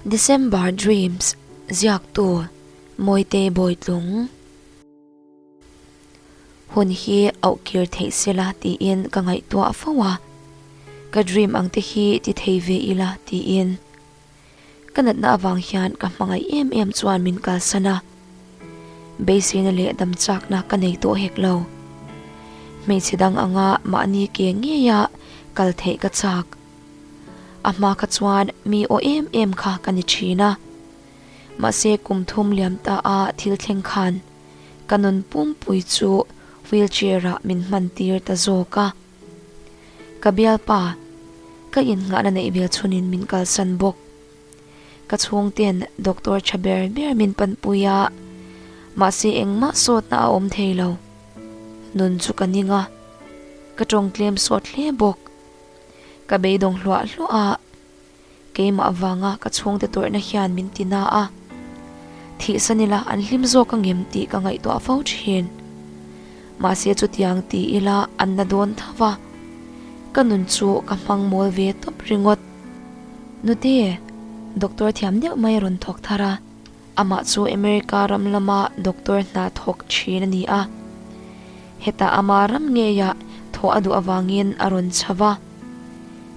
December Dreams ziaktu Mawitei Bawitlung hun hi auh kir theih sela tiin ka ngaihtuah fo a, ka dream ang te hi ti thei ve ila tiin Ka natna avang hian ka hmangaih em em chuan min kalsan a, beiseina leh damchakna ka nei tawh hek lo. Hmeichhe dang anga mahni ke ngeia kal theih ka chak. A hma kha chuan mi aw em em kha ka ni thin a, mahse kum thum liam ta a thil thleng khan ka nun pumpui chu wheelchair-ah min hman tir ta zawk a. Ka bialpa, ka innghahna neih vel chunin min kalsan bawk. Ka chhungte'n doctor tha ber ber min panpui a, mahse engmah sawtna a awm thei lo. Nun chu ka ning a, ka tawngtlem suat hle bawk. Ka beidawng hluah hluah a. Keimah vanga ka chhungte tawrhna hian min ti na a, thih san ila an hlim zawk a ngem tih ka ngaihtuah fo thin. Mahse chutiang ti ila an la dawn tho va, ka nun chu ka hmang mawl ve tawp ringawt. Nute, doctor thiam deuh mai rawn thawk thar a. Amah chu America ram lama doctor hna thawk thin a ni a, hetah ama ram ngeiah thawh a duh avangin a rawn chho va.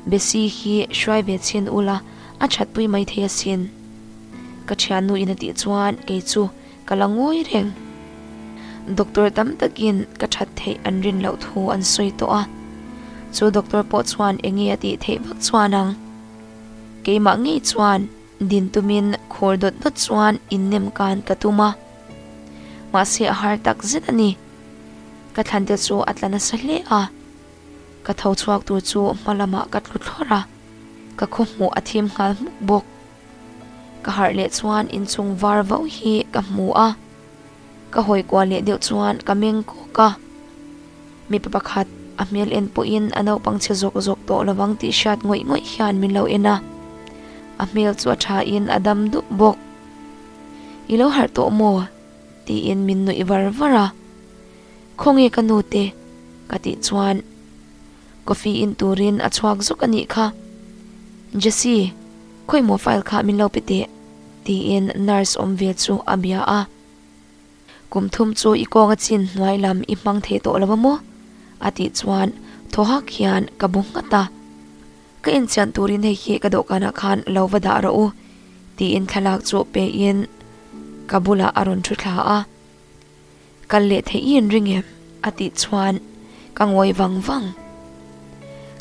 Bessie hi hruai ve chhin ula a thatpui mai thei asin. Ka thiannu in a tih chuan kei chu ka la ngawi reng. Doctor tam takin ka that theih an rin loh thu an sawi tawh a, chu doctor pawh chuan enge a tih theih vak chuan ang. Keimah ngei chuan Din tumin khawr dawt dawt chuan innem kan ka tum a, mahse a har tak zet a ni. Ka thlante chu a tla nasa hle a, ka tho chhuak tur chu hma lamah ka tlu thlawr a, ka khawhmuh a thim nghal hmuk bawk. Ka harh leh chuan inchung var vau hi ka hmu a. Ka hawi kual leh deuh chuan ka meng kawk a, mipa pakhat a hmel en pawhin a naupang chhe zawk zawk tawh lovang tih hriat ngawih ngawih hian min lo en a, a hmel chu a thain a dam dup bawk. I lo harh tawh maw? tiin min nuih var var a. Khawnge ka nute? ka tih chuan Coffee in turin a chhuak zawk anih kha. Jessy, khawi maw file kha min lo pe teh? tiin nurse awm ve chu a bia a. Kum thum chu i kawnga chin hnuai lam i hmang thei tawh lo a maw? a tih chuan thaw hak hian ka bu nghat a. Ka inchian turin hei hi ka dawhkanah khan lo va dah rawh u, tiin thlalak chu peiin ka bulah a rawn thu thla a. Kal leh theih i an ring em? a tih chuan ka ngawi vang vang.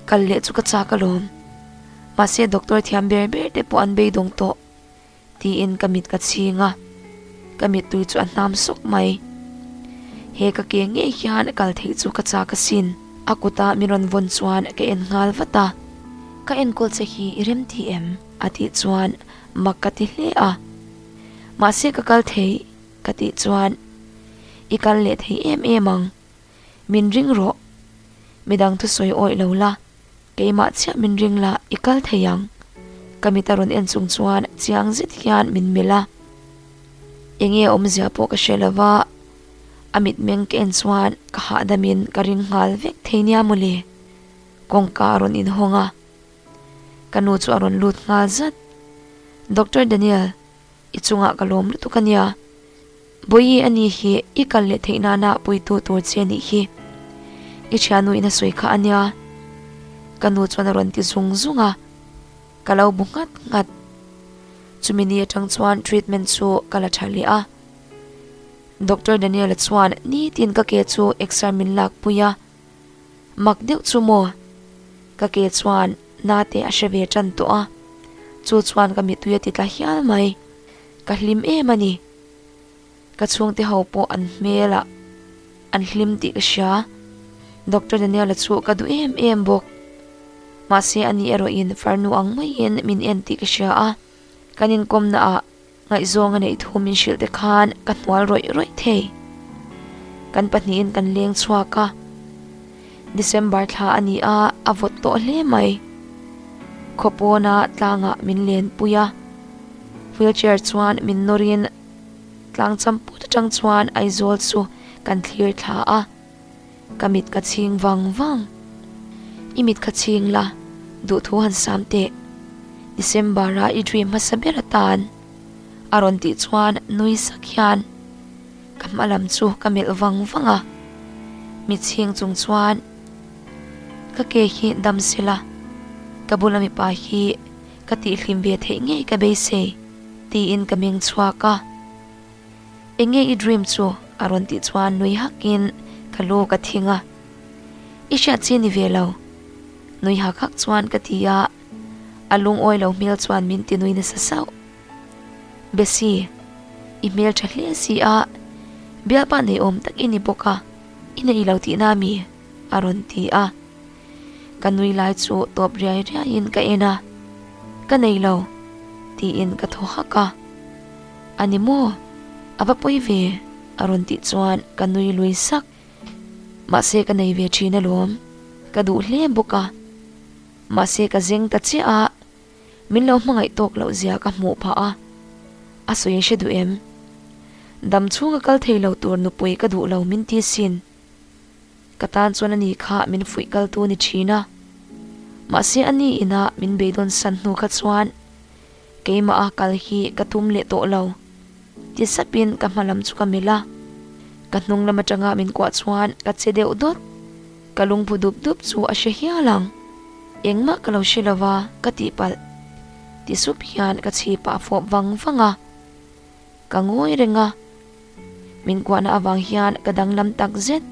Kal leh chu ka chak alawm, mahse doctor thiam ber ber te pawh an beidawng tawh, tiin ka mit ka chhing a, ka mittui chu a hnam sawk mai. He ka ke ngei hian kal theih chu ka chak asin, a kuta min rawn vawn chuan ka en nghal vat a. Ka enkawl che hi i rem tih em? a tih chuan mak ka ti hle a, mahse ka kal thei. Ka tih chuan, I kal leh thei em em ang, min ring rawh. Midang thu sawi awih lo la, keimah chiah min ring la, i kal thei ang. Ka mit a rawn en chung chuan chiang zet hian min melh a. Enge a awmzia pawh ka hre lo va, a mitmeng ka en chuan ka hahdamin ka ring nghal vek thei nia maw le. Kawngka a rawn inhawng a. Ka nu chu a rawn lut nghal zat. Doctor Daniel, I chungah ka lawm lutuk a nia. Bawihi a nih hi i kal leh theih nana puitu tur che nih hi. I thiannu in a sawi kha a nia. Ka nu chuan a rawn ti zung zung a, ka lo bu ngat ngat. Chumi ni atang chuan treatment chu ka la tha leh a. Doctor Daniel-a chuan nitin ka ke chu X-ray min lakpui a. Mak deuh chu maw? Ka ke chuan nate a hre ve tan tawh a, chu chuan ka mitui a ti tla hial mai. Ka hlim em a ni. Ka chhungte ho pawh an hmelah an hlim tih ka hria. Doctor Daniela chu ka duh em em bawk. Mahse anih erawh in farnu ang maiin min en tih ka hria a, kan inkawmnaah Ngaihzawng a neih thu min hrilhte khan ka hnual rawih rawih thei. Kan pahnihin kan leng chhuak a. December thla a ni a, a vawt tawh hle mai. Khaw pawna tlangah min len pui a. Wheelchair chuan min nawrin tlang champut atang chuan Aizawl chu kan thlir thla a. Ka mit ka chhing vang vang. I mit kha chhing la, duhthu han sam teh. December-a i dream hmasa ber atan a rawn tih chuan nui sak hian ka hma lam chu ka melh vang vang a. Mit chhing chung chuan ka ke hi dam se la, ka bula mipa hi ka tih hlim ve theih ngei ka beisei, tiin ka meng chhuak a. Enge i dream chu? a rawn tih chuan nui hak in ka lu ka thing a, i hriat chi ni ve lo, nui hak hak chuan ka ti a, a lungawi lo hmel chuan min ti nui nasa sauh. Bessy, i hmeltha hle si a, bialpa nei awm tak i ni bawk a, i neilo tihna mi? a rawn ti a, Ka nui lai chu tawp riai riaiin ka en a, Ka nei lo, tiin ka thaw hak a. A ni maw? A va pawi ve, a rawn tih chuan ka nui lui sak. Mahse ka nei ve thin alawm, ka duh hle bawk a. Mahse ka zeng ta chiah a, min lo hmangaih tawk loh zia ka hmuh phah a. A sawi hre duh em? Dam chhunga kal thei lo tur nupui ka duh lo min ti sin. Ka tan chuan ani kha min fuih kal tu ni thin a. Mahse ani in ah min beidawn san hnu kha chuan keimah a kal hi ka tum leh tawh lo ti sap in ka hma lam chu ka melh a. Ka hnung lam atang ah min kuah chuan ka che deuh dawt. Ka lungphu dup dup chu a hre hial ang. Engmah ka lo hre lo va ka tih palh ti sup hian ka chhip ah a fawp vang vang a. Ka ngawi reng a, min kuahna avang hian ka danglam takzet.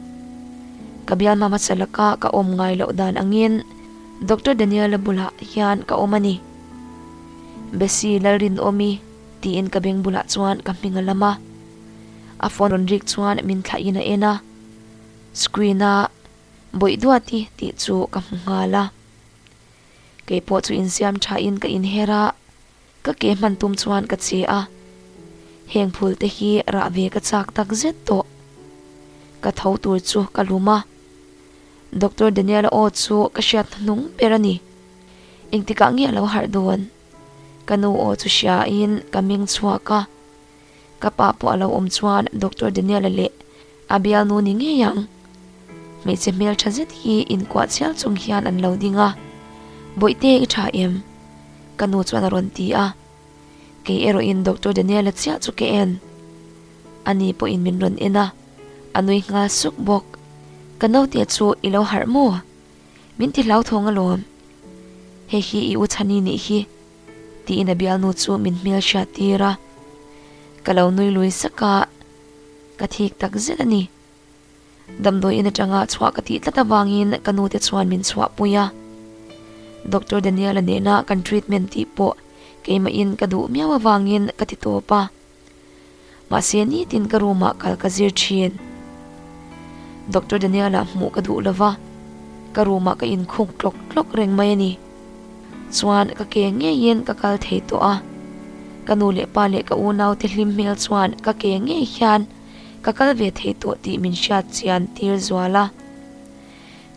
Ka bial hmasa laka ka awm ngai loh dan angin Doctor Daniel la bulah hian ka awm a ni. Besi Lalrin awmi tiin ka beng bulah chuan ka hming a lam a. A phone rawn rik chuan min thlah in a en a. Screen a bawih duat i tih chu ka hmu nghal a. Kei pawh chu insiam tha in ka inher a. Ka ke hman tum chuan ka che a, heng phul te hi rah ve ka chak tak zet tawh. Ka tho tur chu ka lum a, Doctor Daniela aw chu ka hriat hnu hnung ber a ni. Engtikah nge a lo harh dawn? Ka nu aw chu hria in ka meng chhuak a. Ka pa pawh a lo awm chuan Doctor Daniela leh a bialnu ni ngei ang. Hmeichhe hmeltha zet hi inkuah chiang chung hian an lo ding a. Bawihte i tha em? Ka nu chuan a rawn ti a. Kei erawhin Doctor Daniela chiah chu ka en. A ni pawhin min rawn en a. A nui nghal suk bawk. Ka naute chu i lo harh maw? Min ti hlauthawng alawm. Hei hi i u Chhani nih hi. Tiin a bialnu chu min hmelhriat tir a, Ka lo nui lui sak a, ka thik tak zet a ni. Damdawi in atanga chhuah ka tih tlat avangin ka nute chuan min chhuahpui a. Doctor Daniela nena kan treatment tih pawh keimahin ka duh miau avangin ka ti tawp a. Mahse nitin ka room ah kal ka zir thin. Doctor Daniela hmuh ka duh lova, ka room ah ka in khuk tlawk tlawk reng mai a ni. Chuan ka ke ngei in ka kal thei tawh a. Ka nu leh pa leh ka unau te hlim hmel chuan ka ke ngei hian ka kal ve thei tawh tih min hriat chian tir zual a.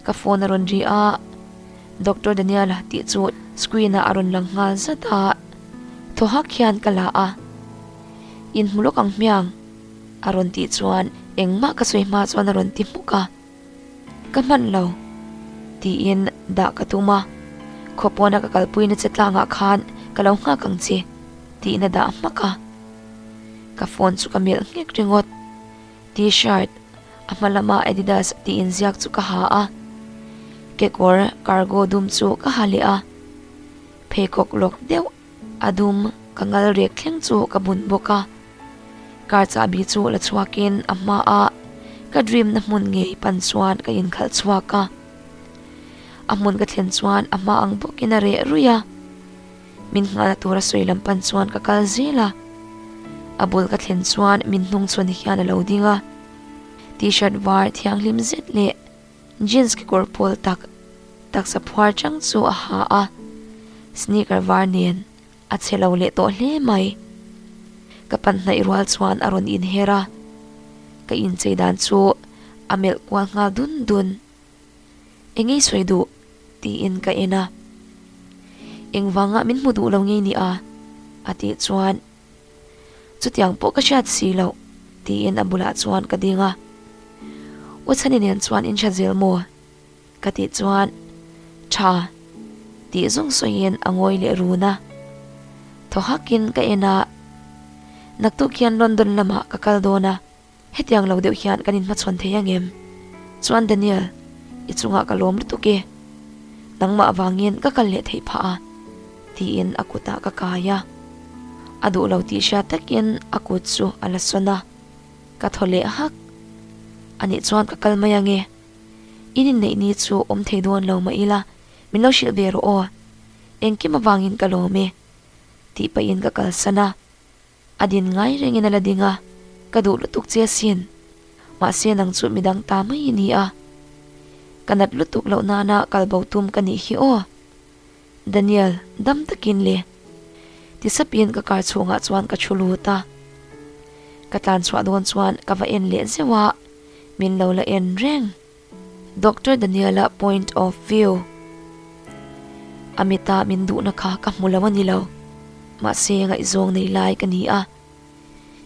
Ka phone a rawn ri a, Doctor Daniel tih chu screen ah a rawn lang nghal zat a, thaw hak hian ka la a, in hmu lawk ang hmiang a rawn tih chuan engmah ka sawi hma chuan a rawn ti hmuk a, ka hman lo tiin dah ka tum a, khawpawn a ka kalpui na che tlang ah khan ka lo nghak ang che tihna dah hmak a, ka phone chu ka melh nghek ringawt. T-shirt, a hma lama Adidas tih inziak chu ka ha a, kekawr cargo dum chu ka ha leh a, pheikhawk lawk deuh a dum ka ngal rek thleng chu ka bun bawk a, car chahbi chu la chhuakin a hma a ka dream na hmun ngei pan chuan ka inkhalh chhuak a, a hmun ka thlen chuan a hma ang bawkin a reh rui a. Min nghal tura sawi lam pan chuan ka kal zil a, a bul ka thlen chuan min hnung chhuan hian a lo ding a. T-shirt var thianghlim zet leh jeans kekawr pawl tak taksa phuar chang chu a ha a, sneaker var nen a chhe lo leh tawh hle mai. Ka pan hnaih rual chuan a rawn inher a, ka inchei dan chu a melh kual nghal dun dun. Engei sawi duh? tiin ka en a. Engvanga min hmu duh lo ngei nia? a tih chuan Chutiang pawh ka hriat si lo, tiin a bulah chuan ka ding a. U Chhani nen chuan in hria zel maw? ka tih chuan Tha, tih zung sawiin a ngawi leh run a. Thaw hakin ka en a, naktuk hian London lamah ka kal dawn a. Hetiang lo deuh hian kan inhmachhawn thei angem? Chuan Daniel, I chungah ka lawm lutuk e. Nangmah vangin ka kal leh theih phah a, tiin a kutah ka kai a. A duh lo tih hriat takin a kut chu a la sawn a. Ka thaw leh hak. Anih chuan ka kal mai ange. I ninneih ni chu awm thei dawn lo mah ila, min lo hrilh ve rawh aw. Engkim avangin ka lawm e. Tih pahin ka kalsan a. A din ngai rengin a la ding a, Ka duh lutuk che asin. Mahse nang chu mi dang ta mai a ni a. Ka nat lutuk loh nana kal bo tum ka nih hi aw. Daniel, dam takin le. Tisapin ka kar chhungah chuan ka thu lut a. Ka tlan chhuah dawn chuan ka va en leh zeuh a, min lo la en reng. Doctor Daniela point of view a mita min duhna kha ka hmu lo a ni lo, mahse ngaihzawng nei lai ka ni a,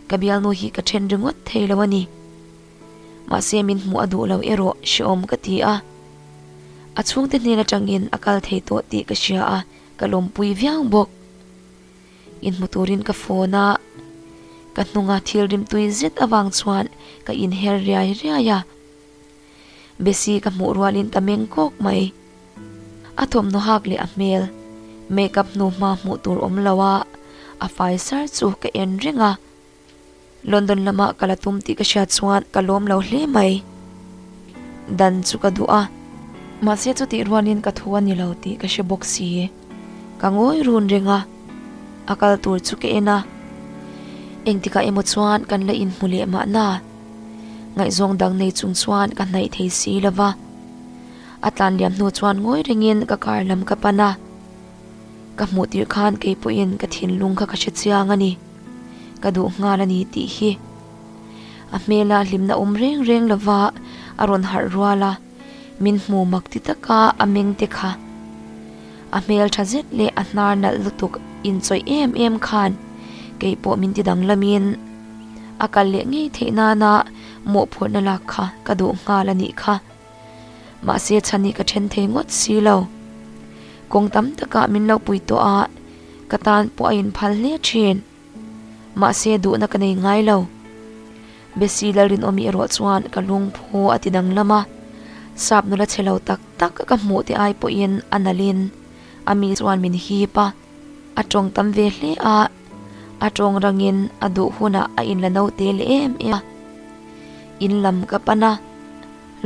ka bialnu hi ka then ringawt thei lo a ni. Mahse min hmu a duh lo erawh hreawm ka ti a, a chhungte hnen atangin a kal thei tawh tih ka hria a, ka lawmpui viau bawk. In hmu turin ka phone a ka hnunga thil rim tui zet avang chuan ka inher riai riai a. Bessie ka hmuh rualin ka meng kawk mai. A thawmhnaw hak leh a hmel, makeup hnu hma hmuh tur awm lo a, a fai sar chu ka en reng a. London lamah ka la tum tih ka hria chuan ka lawm lo hle mai. Dan chu ka duh a. Mahse chutih rualin ka thu a ni lo tih ka hre bawk si. Ka ngawi run reng a, a kal tur chu ka en a. Engtikah emaw chuan kan la inhmu leh mahna ngaihzawng dang nei chung chuan ka hnaih thei si lo va. A tlan liam hnu chuan ngawi rengin ka kar lam ka pan a. Ka hmuh tirh khan kei pawhin ka thinlung kha ka hre chiang a ni. Ka duh nghal a ni tih hi. A hmela hlimna awm reng reng lovah a rawn harh rual a. Min hmu mak ti taka a meng te kha a hmeltha zet leh a hnar nalh lutuk inchawih em em khan kei pawh min ti dang lamin a kal leh ngei theih nana mawhphurhna lak kha ka duh nghal a nih kha. Mahse chhan hi ka then thei ngawt si lo. Kawng tam taka min lo pui tawh a, ka tan pawh a inphal hle thin. Mahse duhna ka nei ngai lo. Bessy la rinawm i erawh chuan ka lungphu a ti danglam a. Sap nula che lo tak tak ka hmuh teh ai pawhin a nalhin a mi chuan min hip a. A tawng tam ve hle a, a tawng rangin a duh hunah a inla naute leh em em a. In lam ka pan a,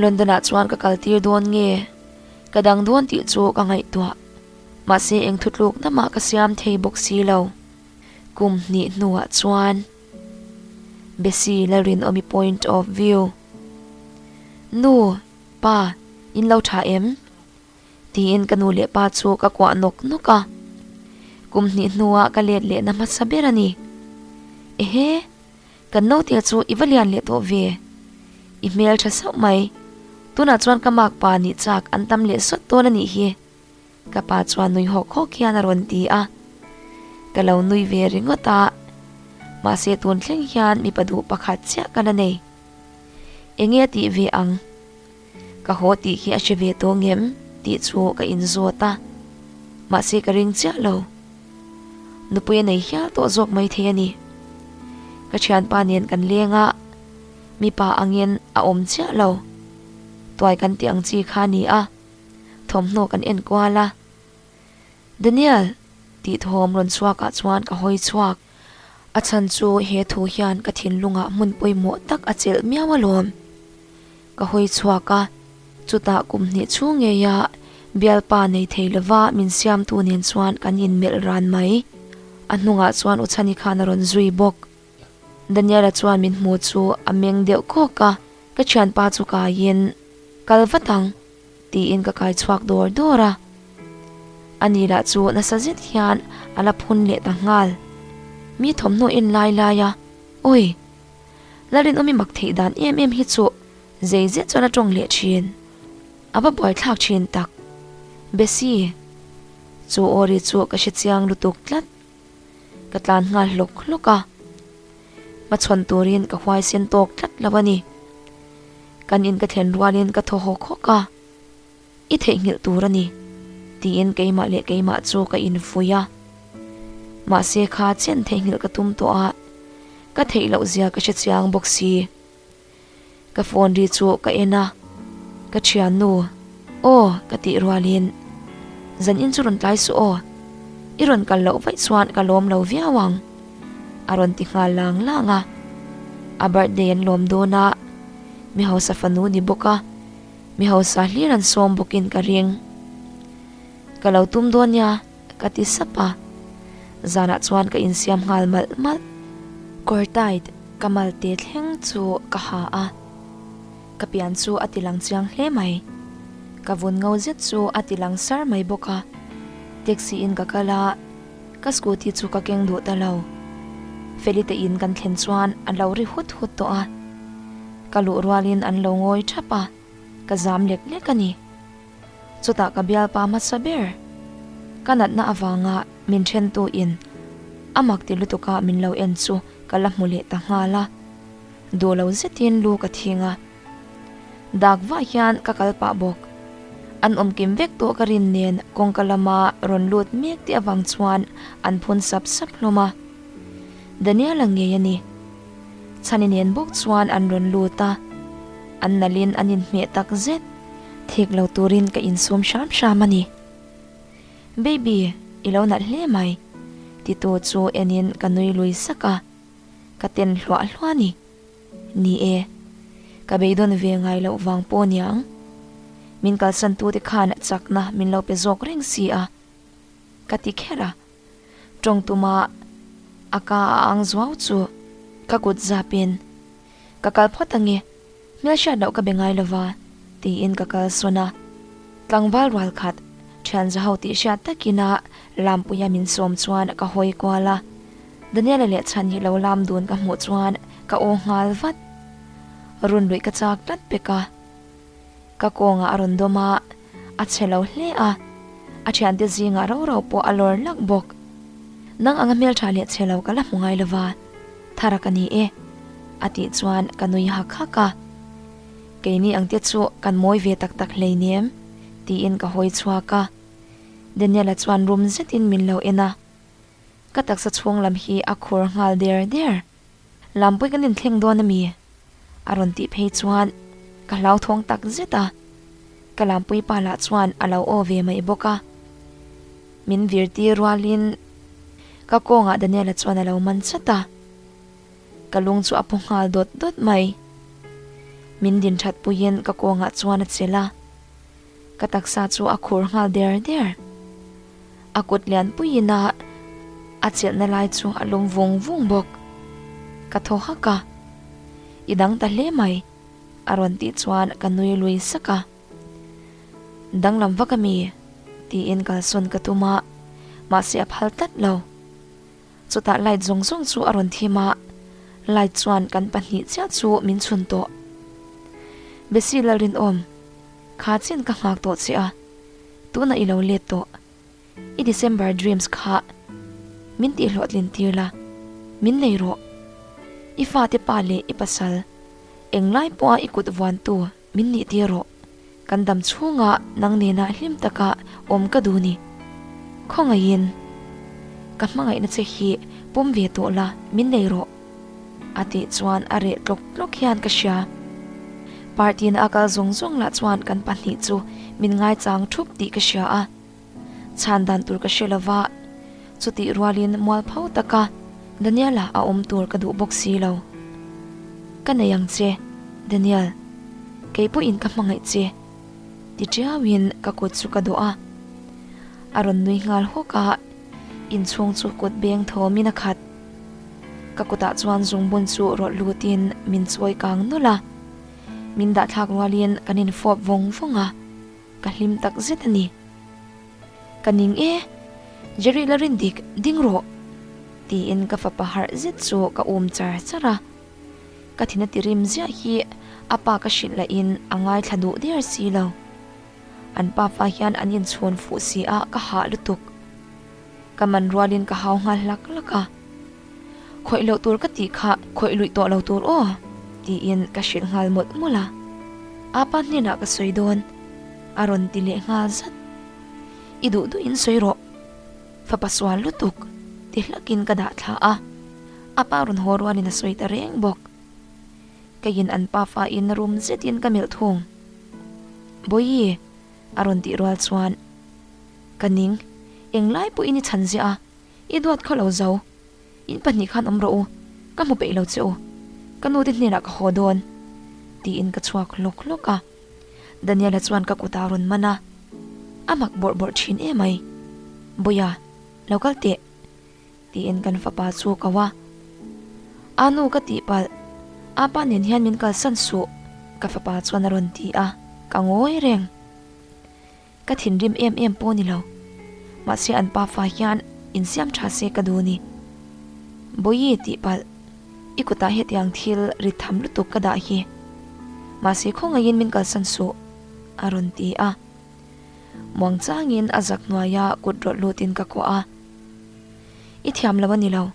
London ah chuan ka kal tir dawn nge ka dang dawn tih chu ka ngaihtuah. Mahse eng thutlukna mah ka siam thei bawk si lo. Kum hnih hnuah chuan Bessy la rinawm i point of view, Nu, Pa, in lo tha em? tiin ka nu leh pa chu ka kuah nawk nawk a. Kum hnih hnuah ka let lehna hmasa ber a ni. Ehe, kan note chu i va lian leh tawh ve. I hmeltha sauh mai. Tunah chuan ka makpa nih chak an tam leh sawt dawn a nih hi. Ka pa chuan nui hawk hawk hian a rawn ti a, ka lo nui ve ringawt a, mahse tun thleng hian mipa duh pakhat chiah ka la nei. Enge tih ve ang? Ka haw tih hi a hre ve tawh ang em? tih chu ka in zawt a, mahse ka ring chiah lo. Nupui a nei hial tawh zawk mai thei a ni. Ka thianpa nen kan leng a, mipa angin a awm chiah lo. Tuai kan tih ang chi kha a ni a, thawmhnaw kan en kual a. Daniel tithawm rawn chhuakah chuan ka hawi chhuak. A chhan chu he thu hian ka thinlungah hmun pawimawh tak a chelh miau alawm. Ka hawi chhuak a, chutah kum hnih chhu ngeia bialpa nei thei lova min siamtu nen chuan kan inmelh ran mai. A hnungah chuan Uchhani khan a rawn zui bawk. Daniela chuan min hmu chu a meng deuh kawk a, ka thianpa chu kaiin, Kal vat ang, tiin ka kai chhuak dawr dawr a. A ni lah chu nasa zet hian a la phun leh ta nghal. Mi thawmhnaw en lai lai a, Awi, la rinawm i mak theih dan em em hi chu zei zet chuan a tawng leh thin. A va buaithlak thin tak. Bessie, chu Ori chu ka hrechiang lutuk tlat. Ka tlan nghal hlawk hlawk a, hma chhawn turin ka huai sen tawk tlat lo a ni. Kan in ka thlen rualin ka thaw hawk hawk a, i theihnghilh tur a ni, tiin keimah leh keimah chu ka invui a. Mahse kha chian theihnghilh ka tum tawh a, ka theih loh zia ka hre chiang bawk si. Ka phone ri chu ka en a, ka thiannu aw ka tih rualin, zan in chu rawn tlai suh aw, i rawn kal loh vaih chuan ka lawm lo viau ang, a rawn ti nghal lang lang a, a birthday an lawm dawn a, mi hausa fanu ni bawk a, mi hausa hlir an sawm bawkin ka ring, ka lo tum dawn nia. Ka ti sap a, zanah chuan ka insiam nghal malh malh. Kawr tight ka mal te thleng chu ka ha a, ka pian chu a tilang chiang hle mai. Ka vun ngo zet chu a ti langsar mai bawk a, taxi in ka kal a, ka scooty chu ka keng duh ta lo. Felite in kan thlen chuan an lo ri hut hut tawh a, ka luh rualin an lo ngawi thap a, ka zam lek lek a ni. Chutah ka bialpa hmasa ber ka natna avanga min ṭhentu in a mak ti lutuka min lo en chu ka la hmu leh ta nghal a, duh lo zetin lu ka thing a. Dak vah hian ka kal pah bawk. An awm kim vek tawh ka rin nen kawngka lama rawn lut mek tih avang chuan an phun sap sap hlawm a. Daniela ngei a ni. Chhani nen bawk chuan an rawn lut a, an nalhin an inhmeh tak zet, thik lo turin ka insum hram hram a ni. Baby, i lo nalh hle mai, ti tu chu enin ka nui lui sak a, ka ten hluah hluah a ni. Ni e, ka beidawn ve ngai loh vang pawh niang. Min kalsan tute khan chakna min lo pe zawk reng si a, ka ti kher a. Tawng tuma a ka a ang zuau chu ka kut zap in ka kal phawt ange, hmelhriat loh ka be ngai lova tiin ka kal sawn a. Tlangval rual khat thianza ho tih hriat takin a lampuia min sawm chuan ka hawi kual a, Daniela leh chhan hi lo lam dun ka hmuh chuan ka aw nghal vat. Runluih ka chak tlat bek a, ka kawngah a rawn dawm a. a chhe lo hle a, a thiante zingah rau rau pawh a lawr lak bawk. Nang anga hmeltha leh chhe lo ka la hmu ngai lova, thar a ka ni e, a tih chuan ka nui hak hak a. Keini ang te chu kan mawi ve tak tak hleinem, tiin ka hawi chhuak a. Daniela chuan rum zetin min lo en a. Ka taksa chhunglam hi a khur nghal der der. Lampuii kan inthleng dawn a mi? a rawn tih phei chuan ka hlauthawng tak zet a, ka Lampuii pa lah chuan a lo aw ve mai bawk a, min vir tir rual in ka kawngah Daniela chuan a lo man chat a, ka lung chu a paw nghal dawt dawt mai, min din thatpui in ka kawngah chuan a chelh a. Ka taksa chu a khur nghal der der. A kut lianpuiin a a chilhna lai chu a lum vung vung bawk. Ka thaw hak a, i dang ta hle mai a rawn tih chuan ka nui lui sak a. Danglam vak a mi? tiin kalsawn ka tum a, mahse a phal tlat lo. Chutah light zawng zawng chu a rawn thim a, light chuan kan pahnih chiah chu min chhun tawh. Besi la rinawm kha chin ka nghak tawh che a, tunah i lo let tawh. I December dreams kha min tihhlawhtlin tir la, min nei rawh. I fate pa leh i pasal eng lai pawha i kut vuantu Min nih tir rawh, kan dam chhunga nang nena hlim taka awm ka duh ni. Khawngaihin, Ka hmangaihna che hi pawm ve tawh la, min nei rawh, a tih chuan a reh tlawk tlawk hian ka hria. Party na a kal zawng zawng lah chuan kan pahnih chu min ngaichang thup tih ka hria a. chhan dan tur ka hre lova, chutih rualin mual pho taka Daniela a awm tur ka duh bawk si lo. Ka nei ang che, Daniel, kei pawhin ka hmangaih che, ti tiauin ka kut chu ka dawh a. A rawn nui nghal hawk a, inchhung chu kut beng thawmin a khat. Ka kutah chuan zungbun chu rawlh lutin min chawi kang nawlh a, min dahthlak rualin kan infawp vawng vawng a. Ka hlim tak zet a ni. Ka ning e, Jerry la rin dik ding rawh, tiin ka fapa harh zet chu ka um char char a. Ka thin a ti rim ziah hi a pa ka hrilh la in a ngaithla duh der si lo. An pa fa hian an inchhuan fuh si a ka hah lutuk. Ka man rualin ka hau nghal hlak hlak a, khawih loh tur ka tih kha khawih luih tawh lo tur aw tiin ka hrilh nghal mawlh mawlh a, Apa hnenah ka sawi dawn a rawn ti leh nghal zat. I duh duh in sawi rawh fapa sual lutuk ti hlakin ka dah thla a, Apa rawn haw rualin a sawi ta reng bawk. Keiin an pa fain rum zetin ka melh thung, Bawiii a rawn tih rual chuan, Ka ning, eng lai pawhin i chhan zia a, i duat kho lo zo. In pahnih khan awm rawh u, ka hmu peih lo che u. Ka nute hnenah ka haw dawn. Tiin ka chhuak hlawk hlawk a. Daniela chuan ka kutah a rawn man a, a mak bawrh bawrh thin e mai. Bawia, lo kal teh. Tiin kan fapa chu kau a. A nu ka tih palh, a pa nen hian min kalsan suh. Ka fapa chuan a rawn ti a, ka ngawi reng. Ka thinrim em em pawh ni lo, mahse an pa fa hian in siam tha se ka duh ni. Bawiii tih palh, i kutah hetiang thil rit tham lutuk ka dah hi. Mahse khawngaihin min kalsan suh, a rawn ti a. Muangchangin a zak hnuaia kut rawlh lutin ka kawh a. I thiam lo a ni lo,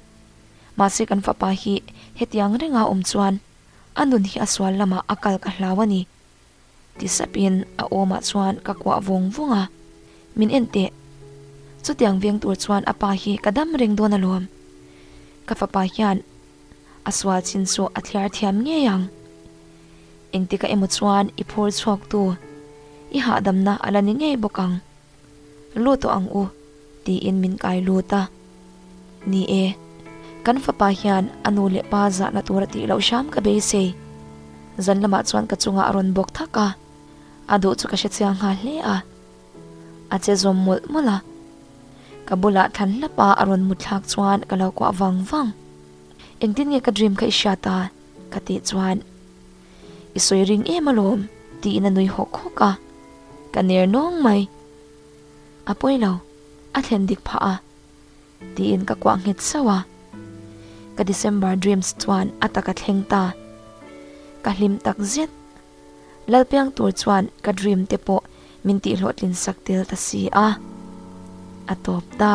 mahse kan fapa hi hetiang renga awm chuan a nun hi a sual lamah a kal ka hlau a ni. Ti sapin a awmah chuan ka kuah vawng vawng a, min en teh. Chutiang veng tur chuan a pa hi ka dam reng dawn alawm. Ka fapa hian a sual chin chu a thliar thiam ngei ang. Engti ka emaw chuan i phur chhuaktu i hahdamna a la ni ngei bawk ang. Lut tawh ang u, tiin min kai lut a. Ni e, kan fapa hian a nu leh pa zahna tur a tih loh hram ka beisei. Zan lamah chuan ka chungah a rawn bawk thak a, a duh chu ka hre chiang nghal hle a. A che zawm mawlh mawlh a. Ka bulah thlan hlapa a rawn mutthlak chuan ka lo kuah vang vang. Engtin nge ka dream kha i hria ta? ka tih chuan. I sawi ring em alawm tiin a nui hawk hawk a, ka ner nawng mai. A pawi lo, a thlen dik phah a tiin ka kuah nghet sauh a. Ka December dreams chuan a taka thleng ta. Ka hlim tak zet. Lalpiang tur chuan ka dream te pawh min tihhlawh tlinsak tel ta si a, a tawp ta.